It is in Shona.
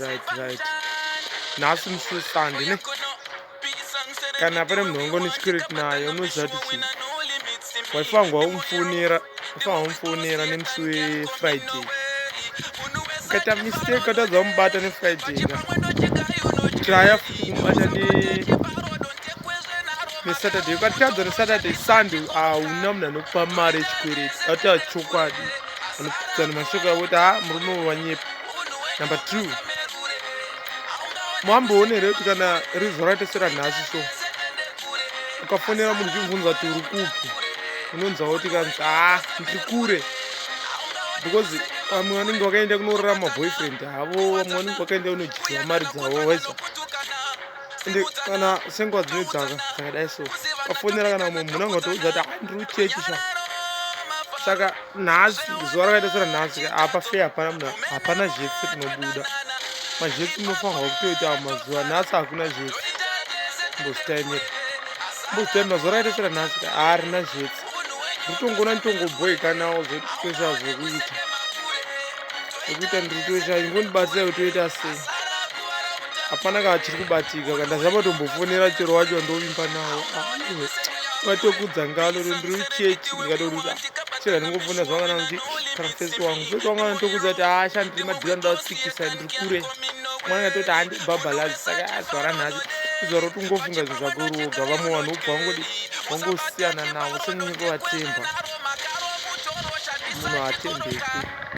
right right nhasi musi wesande ne kana pane munhu wangu nechikireti naye unoziva kuti chii waifangwa umufonera ufangwa umufonera nemusi wefriday ukaita mistake ukatadza kumubata nefriday ka traya futi kumubata nesaturday ukatadza nesaturday sunday hauna munhu anokupa mari yechikwereti ati achokwadi anopfudzana mashoko yavo kuti ha murume wanyepa number two mamboone here kuti kana rizo raita seranhasi so ukafonera munhu uchimubvunza kuti uri kupi unonzwa kuti kanzi haa ah, ndiri kure because vamwe vanenge vakaenda kunorara maboyfriend havo vamwe vanenge vakaenda kunojiziva mari dzavo weza ende kana senguva dzine dzaka dzakadai so ukafonera kana umwe munhu angatoudza kuti ah, ndiri kuchechi sha saka nhasi zuva rakaita sera nhasi apa fe hapana munhu hapana zhetsi rinobuda mazhetsi munofanirwa kutoita mazuva nhasi hakuna zhetsi mbozitaimira mbozitaimira zuva rakaita sera nhasi harina zhetsi nditongona nditongoboikanawo zvekuita wekuita ndiri kutoita ingondibatsira kutoita sei hapana kaa chiri kubatika ka ndazama tombofonera chero wacho wandovimba nawo vatokudza ngalo ndiri kuchechi ndikatoruta chero ndingofonera zvavana kuti kana fesi wangu fesi wangu anotokudza kuti asha ndiri madhira ndavasikisa ndiri kure mwana atoti handibhabhalazi saka azvara nhasi izvaro tingofunga zvinhu zvako roga vamwe vanhu ubva vangodi vangosiyana navo senyinyi kuvatemba munhu atembeki